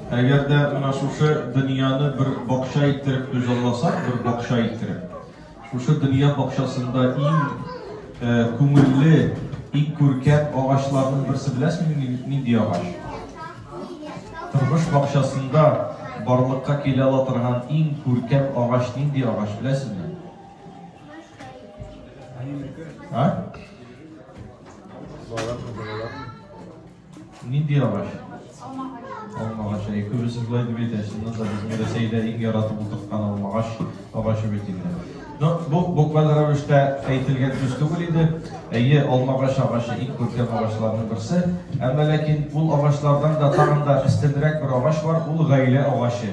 Әгәр дә менә шушы дөньяны бер бакча иттереп күзалласак, бер бакча иттереп, шушы дөнья бакчасында иң э, күңелле, иң күркәм агачларның берсе беләсеңме нинди агач? Тормыш бакчасында барлыкка килә ала торган иң күркәм агач нинди агач беләсеңме? А? Нинди агач? Алма агачы. Алма агачы. Әй, күбесе болай дип әйтә, чыннан да безнең Рәсәйдә иң яратып утырткан алма агач агачы бит инде. Но бу букваль рәвештә әйтелгән сүз түгел иде. Әйе, алма агач агачы иң күркәм агачларның берсе. Әмма ләкин ул агачлардан да тагын да өстенрәк бер агач бар, ул гаилә агачы.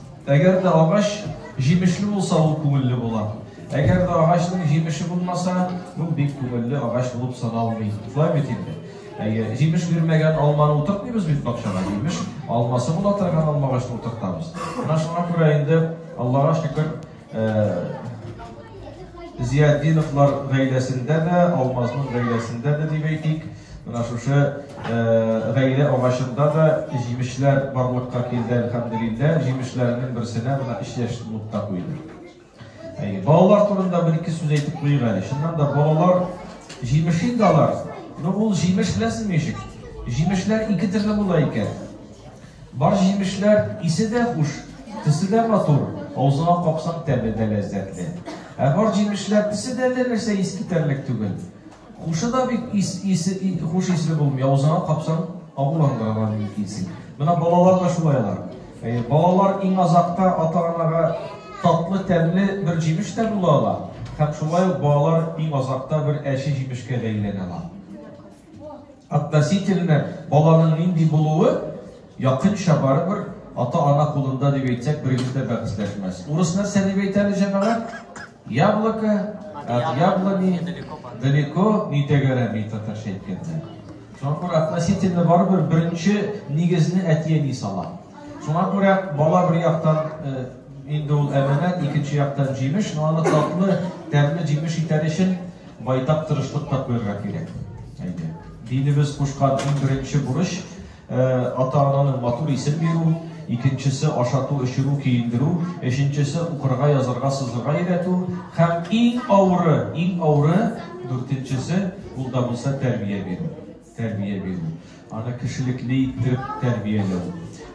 Әгәр дә агач җимешле булса, ул күңелле була. Әгәр дә агачның җимеше булмаса, ул бик күңелле агач булып саналмый. Шулай бит инде. Әйе, җимеш бирмәгән алманы утыртмыйбыз бит бакчага. Җимеш алмасы була торган алма агачны утыртабыз. Менә шуңа күрә инде Аллага шөкер, Зиятдиновлар гаиләсендә дә, Алмазның гаиләсендә дә дип әйтик, менә шушы гаилә агачында да җимешләр барлыкка килде, әлхәмдулилләһ. Җимешләрнең берсенә менә өч яшьлек нукта куйды. Әйе, балалар турында бер-ике сүз әйтеп куйыйк әле. Чыннан да балалар җимеш инде алар. Ну, ул җимеш беләсезме ничек? Җимешләр ике төрле була икән. Бар җимешләр исе дә хуш, төсе дә матур, авызыңа капсаң тәме дә ләззәтле. Ә бар җимешләр төсе дә әллә нәрсә ис китәрлек түгел. Хушы да бик ис, исе, хуш исле булмый, авызыңа капсаң агуландырырга мөмкинсең. Менә балалар да шулай алар. Ә, балалар иң азакта ата-анага татлы, тәмле бер җимеш тә була ала. Һәм шулай ук балалар иң азакта бер әче җимешкә бәйләнә ала. Относительно баланың нинди булуы якынча барыбер ата-ана кулында дип әйтсәк, берегез дә бәхәсләшмәс. Урыс нәрсә дип әйтә әле җәмәгать? Яблоко, от яблони, далеко, не тәгәрәми татарча әйткәндә. Шуңа күрә относительно барыбер беренче нигезне әти-әни сала. Шуңа күрә бала бер яктан э, инде ул әманәт, икенче яктан җимеш, но аны татлы, тәмле җимеш итәр өчен Байтак тырышлык та куярга кирәк. Әйдә. Динебез кушкан иң беренче бурыч, ата-ананың матур исем бирү, икенчесе ашату, эчерү, киендерү, өченчесе укырга, язарга, сызырга өйрәтү һәм иң авыры, иң авыры, дүртенчесе, ул да булса, тәрбия бирү. тәрбия бирү, аны кешелекле иттереп тәрбияләү.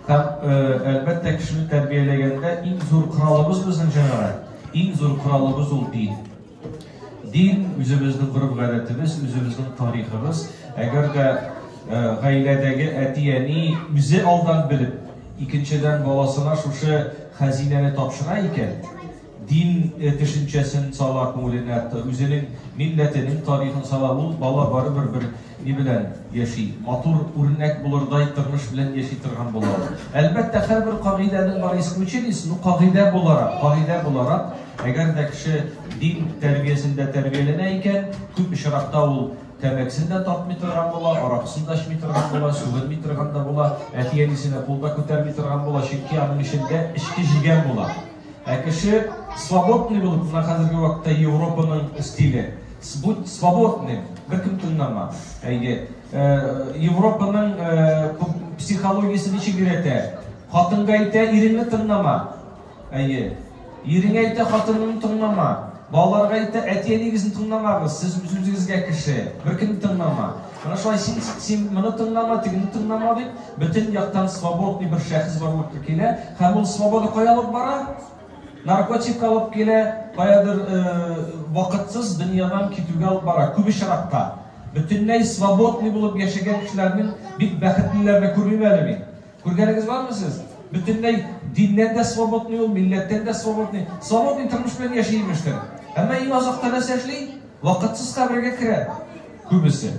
Һәм, э, әлбәттә, кешене тәрбияләгәндә иң зур коралыбыз безнең җәмәгать, иң зур коралыбыз ул дин. Дин үзебезнең гореф-гадәтебез, үзебезнең тарихыбыз. Әгәр дә э, гаиләдәге әти-әни үзе алдан белеп, икенчедән баласына шушы хәзинәне тапшыра икән, Дин төшенчәсен сала күңеленә, үзенең милләтенең тарихын сала. Ул бала барыбер бер ни белән яши, матур үрнәк булырдай тормыш белән яши торган була ул. Әлбәттә, һәрбер кагыйдәнең бар исключениесе, ну кагыйдә буларак, кагыйдә буларак, әгәр дә кеше дин тәрбиясендә тәрбияләнә икән, күп очракта ул тәмәкесен дә тартмый торган була, аракысын да эчми торган була, сүгенми торган да була, әти-әнисенә кул да күтәрми торган була, чөнки аның эчендә эчке җигән була. Ә кеше свободный булып, менә хәзерге вакытта Европаның стиле. Будь свободным, беркем тыңлама. Әйе. Э, Европаның э, психологиясе ничек өйрәтә? Хатынга әйтә, иреңне тыңлама. Әйе. Иреңә әйтә, хатыныңны тыңлама. Балаларга әйтә, әти-әнигезне тыңламагыз, сез үзегезгә кеше, беркемне тыңлама. Менә шулай син, син моны тыңлама, тегене тыңлама дип, бөтен яктан свободный бер шәхес барлыкка килә, һәм ул свобода кая алып бара? Наркотик алып килә, каядыр э, вакытсыз дөньядан китүгә алып бара, күп очракта. Бөтенләй свободный булып яшәгән кешеләрнең бик бәхетлеләрне күрмим әле мин. Күргәнегез бармы сез? Бөтенләй диннән дә свободный ул, милләттән дә свободный. Свободный тормыш белән яши имештер. Әмма иң азакта нәрсә эшли? Вакытсыз кабергә керә. Күбесе.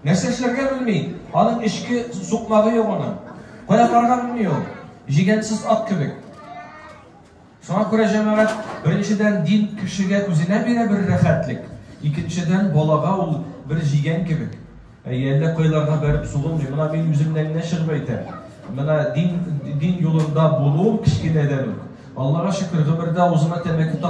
Нәрсә эшләргә белми. Аның эчке сукмагы юк аның. Кая барган белми ул. Җигәнсез ат кебек. Шуңа күрә, җәмәгать, беренчедән, дин кешегә үзенә бирә бер рәхәтлек, икенчедән, балага ул бер җигән кебек. Әйе, әллә кайларга бәреп сугылмый. Менә мин үземнән генә чыгып әйтәм. Менә дин, дин юлында булуым кечкенәдән үк. Аллага шөкер, гомердә авызыма тәмәке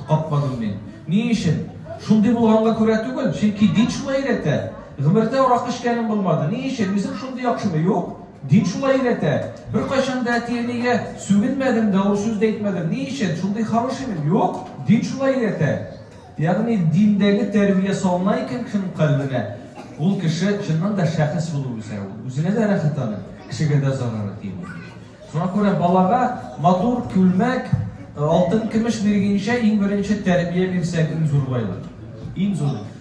капмадым мин. Ни өчен? Шундый булганга күрә түгел, чөнки дин шулай өйрәтә. Гомердә арак эчкәнем булмады. Ни өчен? Үзем шундый яхшымы? Юк. Дин шулай өйрәтә. Беркайчан да әти-әнигә сүгенмәдем дә, авыр сүз дә әйтмәдем. Ни өчен? Шундый хороший мин? Юк, дин шулай өйрәтә. Ягъни диндәге тәрбия салына икән кешенең кальбенә, ул кеше чыннан да шәхес булып үсә, ул үзенә дә рәхәт аны, кешегә дә зарары тими. Шуңа күрә балага матур күлмәк, алтын-көмеш биргенчә иң беренче тәрбия бирсәк иң зур байлык. Иң зур.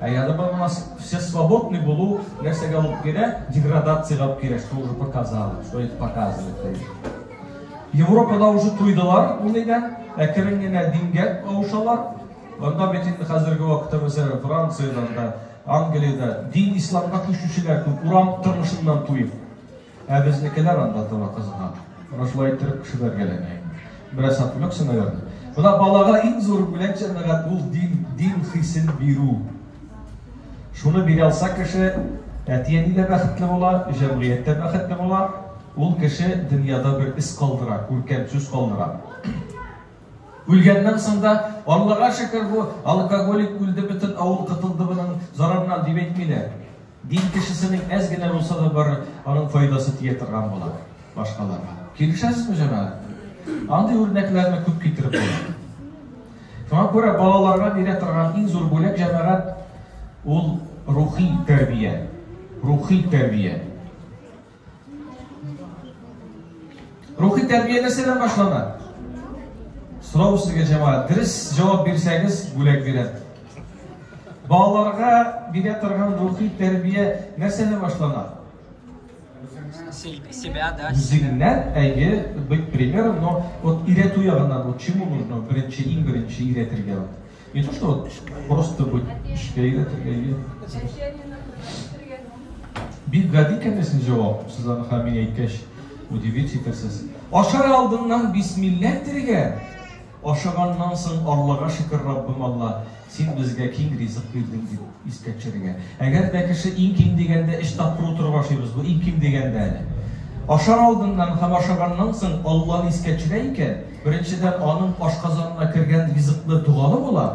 Ә яны бар нас все свободны булу нәрсәгә алып керә? Деградациягә алып керә, что уже показали, что это показывает. Европада уже туйдылар ул иде, ә керен генә дингә кавышалар. Анда бит инде хәзерге вакытта мәсәлән Франциядә, Англиядә дин исламга күчүчеләр күп, урам тормышыннан туеп. Ә безнекеләр анда тора кызган. Менә шулай иттереп шүбәргәләнә инде. Бераз отвлекся, наверное. Менә балага иң зур бүләк җәмәгать ул дин, дин хисен бирү. Шуны бирә алса кеше, әти-әни дә бәхетле була, җәмгыять тә бәхетле була. Ул кеше дөньяда бер эз калдыра, күркәм сүз калдыра. Үлгәннән соң да, Аллага шөкер, бу алкоголик үлде, бөтен авыл котылды моның зарарыннан, дип әйтмиләр. Дин кешесенең әз генә булса да бары аның файдасы тия торган була башкаларга. Килешәсезме, җәмәгать? Андый үрнәкләрне күп китереп була. Шуңа күрә балаларга бирә торган иң зур бүләк җәмәгать ул рухи тәрбия. Рухи тәрбия. Рухи тәрбия нәрсәдән башлана? Сорау сезгә җәмәгать. Дөрес җавап бирсәгез, бүләк бирәм. Балаларга бирә торган рухи тәрбия нәрсәдән башлана? Себя, да. Үзеңнән, әйе, быть примером, но вот өйрәтү ягыннан, вот чему нужно беренче, иң беренче өйрәтергә. Не то, что вот просто быть эшкә өйрәтергә Бик гади икән син җавап. Сез аны хәмин әйткәч, удивить итәсез. Ашар алдыннан бисмилла әйтергә, ашаганнан соң Аллага шөкер Раббым Алла, син безгә киң ризык бирдең дип. Искә төшерергә. Әгәр дә кеше иң ким дигәндә өч тапкыр утырып ашыйбыз, бу иң ким дигәндә әле. Ашар алдыннан һәм ашаганнан соң Алланы искә төшерә икән, беренчедән, аның ашказанына кергән ризыклы догалы була.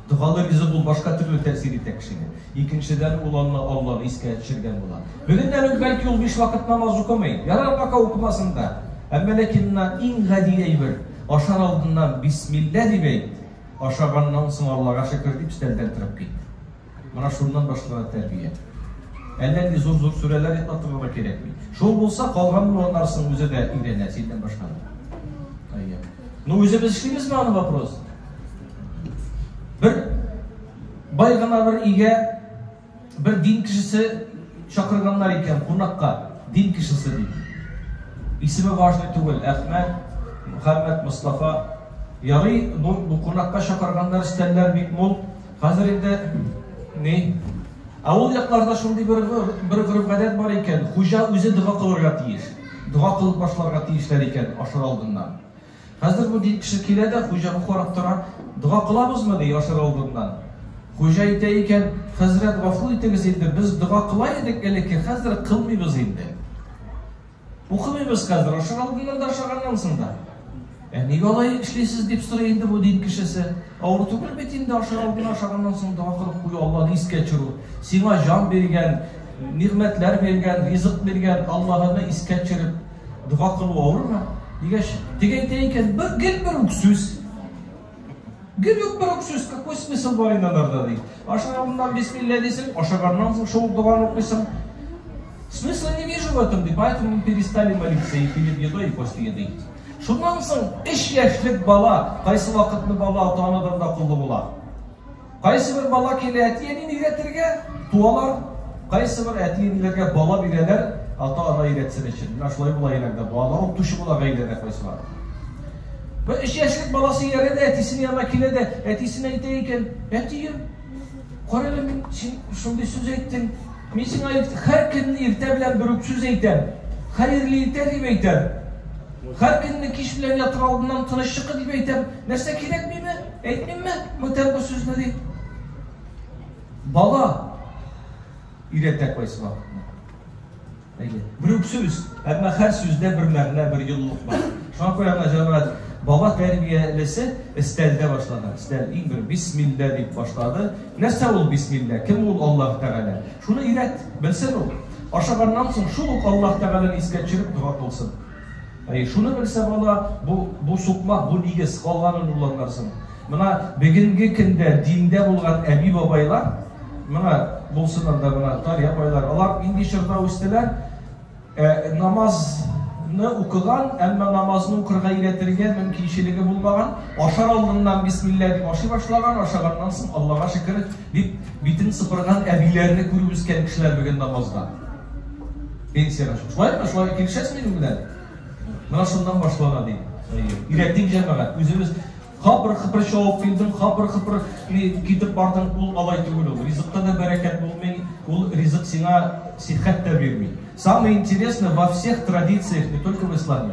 Догалы ризык ул башка төрле тәэсир итә кешегә. Икенчедән, ул анны Алланы искә төшергән була. Бүгеннән үк бәлки ул биш вакыт намаз укымый. Ярар, пока укымасын да. Әмма ләкин моннан иң гади әйбер, ашар алдыннан бисмилла дип әйт, Ашаганнан соң Аллага шөкер дип өстәлдән торып кит. Менә шуннан башлана тәрбия. Әллә нинди зур-зур сүрәләр әйтеп атырырга кирәкми. Шул булса, калган булганнарсын үзе дә өйрәнә, синнән башка. Әйе. Ну, үзе без эшлибез аны вопрос. Бер бай гына бер игә Бер дин кешесе чакырганнар икән кунакка. Дин кешесе ди. Исеме важный түгел. Әхмәт, Мөхәммәд, Мостафа. Ярый, бу, бу кунакка чакырганнар, стәлләр бик мул. Хәзер инде ни? Ә ул якларда шундый бер бер гореф-гадәт бар икән, хуҗа үзе дога кылырга тиеш. Дога кылып башларга тиешләр икән ашар алдыннан. Хәзер бу ди кеше килә дә, хуҗаны карап тора, Дога кылабызмы? ди ашар алдыннан. Хуҗа әйтә икән, Хәзрәт, гафу итегез инде, без дога кыла идек элекке, хәзер кылмыйбыз инде. Укымыйбыз хәзер, ашар алдыннан да, ашаганнан соң да. Ә нигә алай эшлисез дип сорый инде бу дин кешесе. Авыр түгел бит инде ашар алдыннан, ашаганнан соң дога кылып кую, Алланы искә төшерү. Сиңа җан биргән, нигъмәтләр биргән, ризык биргән Аллаһыны искә төшереп, Дога кылу авырмы? Дигәч, теге әйтә икән, бер гел бер үк сүз. Гел үк бер үк сүз, какой смысл бар инде анарда ди. Ашаганнан бисмилла дисең, ашаганнан соң шул доганы укыйсың. Смысла не вижу в этом, ди, поэтому перестали молиться и перед едой, и после еды. Шуннан соң эш яшьлек бала, кайсы вакытны бала ата-анадан да куллы була. Кайсыбер бала килә әти-әнин өйрәтергә, туалар. Кайсыбер әти-әниләргә бала бирәләр, ата-ана өйрәтсен өчен. Менә шулай була генә балалар укытучы була гаиләдә кайсылар. Бер өч яшьлек баласы иярә дә әтисенә янына килә дә, әтисенә әйтә икән, әтием, кара әле мин син шундый сүз әйттең. Мин сиңа һәр көнне иртә белән бер үк сүз әйтәм. Хәерле иртә дип әйтәм. Һәр көнне кич белән ятыр алдыннан тыныч чыкы дип әйтәм. Нәрсә кирәк миме? Әйтмимме, бүтән бу сүзне дип. Бала өйрәтә кайсы вакытны. Әйе. Бер үк сүз, әмма һәр сүздә бер мәгънә, бер юллык бар. Шуңа күрә гына җәмәгать бала тәрбиялесе өстәлдә башлана. Өстәл иң бер бисмилла дип башлады. Нәрсә ул бисмилла? Кем ул Аллаһ Тәгалә? Шуны өйрәт, белсен ул. Ашаганнан соң шул ук Аллаһ Тәгаләне искә төшереп дога кылсын. Әй, шуны белсә бала, бу, бу сукмак, бу нигез, калганын ул аңларсын. Мына бүгенге көндә диндә булган әби-бабайлар, мына булсын анда мына тар апайлар, алар нинди чорда үстеләр? Ә, намаз ны укыган, әмма намазны укырга өйрәтергә мөмкинчелеге булмаган, ашар алдыннан бисмилла дип ашый башлаган, ашаганнан соң Аллага шөкер Бит, битен сыпырган әбиләрне күреп үскән кешеләр бүген намазда. Пенсияга чык. Шулай да шулай килешәсез минем белән? Менә шуннан башлана ди. Ирәтик җәмәгать, үзебез хапыр хыпыр чавып килдем, хапыр хыпыр китеп бардым, ул алай түгел ул. Ризыкта да бәрәкәт булмый, ул ризык сиңа сихәт тә бирми. Самое интересное во всех традициях, не только в исламе,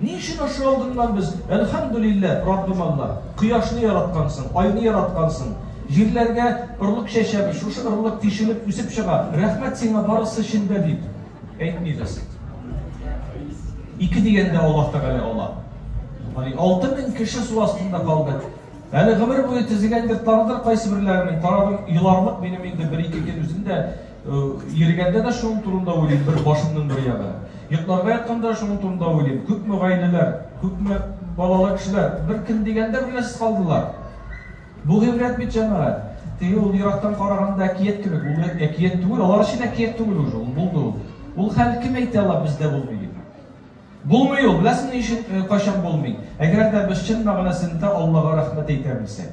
Ни өчен ошый алдыңнан без? Әлхәмдүлиллә, Раббым Алла, кояшны яраткансың, айны яраткансың, җирләргә орлык чәчәбез, шушы орлык тишелеп үсеп чыга, рәхмәт сиңа барысы өчен дә дип әйтмибез. Ике дигәндә Аллаһ Тәгалә ала. Али 6000 кеше су астында калды. Әле гомер буе тезегәндер, таныдыр кайсы берләренең, тарадым, еларлык минем инде бер-ике көн үзендә Э, йөргәндә дә шуның турында уйлыйм, бер башымның бер ягы. Йокларга ятканда шуның турында уйлыйм. Күпме гаиләләр, күпме балалы кешеләр бер кем дигәндә беләсез калдылар. Бу гыйбрәт бит җәмәгать. Теге ул ерактан караганда әкият кебек, ул әкият түгел, алар өчен әкият түгел уже, ул булды ул. Ул хәл кем әйтә ала бездә булмый дип. Булмый ул, беләсез ни өчен э, кайчан булмый? Әгәр дә без чын мәгънәсендә Аллага рәхмәт әйтә белсәк.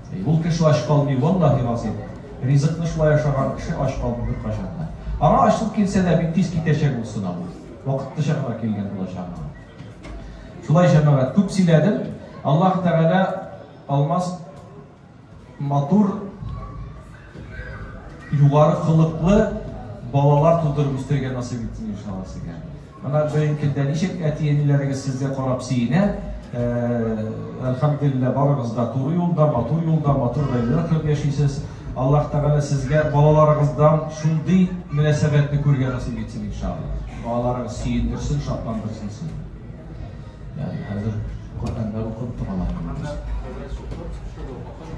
Ул кеше ач калмый, валлаһи газыйм. Ризыкны шулай ашаган кеше ач калмый беркайчан да. Аңа ачлык килсә дә, бик тиз китәчәк ул сынау. Вакытлыча гына килгән булачак аңа. Шулай җәмәгать, күп сөйләдем. Аллаһ Тәгалә Алмаз матур югары холыклы балалар тудырып үстерергә насыйп итсен иншалла сезгә. Ана җаен килдә ничек әти-әниләрегез сезгә карап сөенә, әлхәмдүлилләһ барыгыз да туры юлда, матур юлда, матур гаиләдә торып яшисез. Аллаһ Тәгалә сезгә балаларыгыздан шундый мөнәсәбәтне күрергә насыйп итсен иншаллаһ. Балаларыгыз сөендерсен, шатландырсын сезне. Хәзер Коръәннәр укып тора.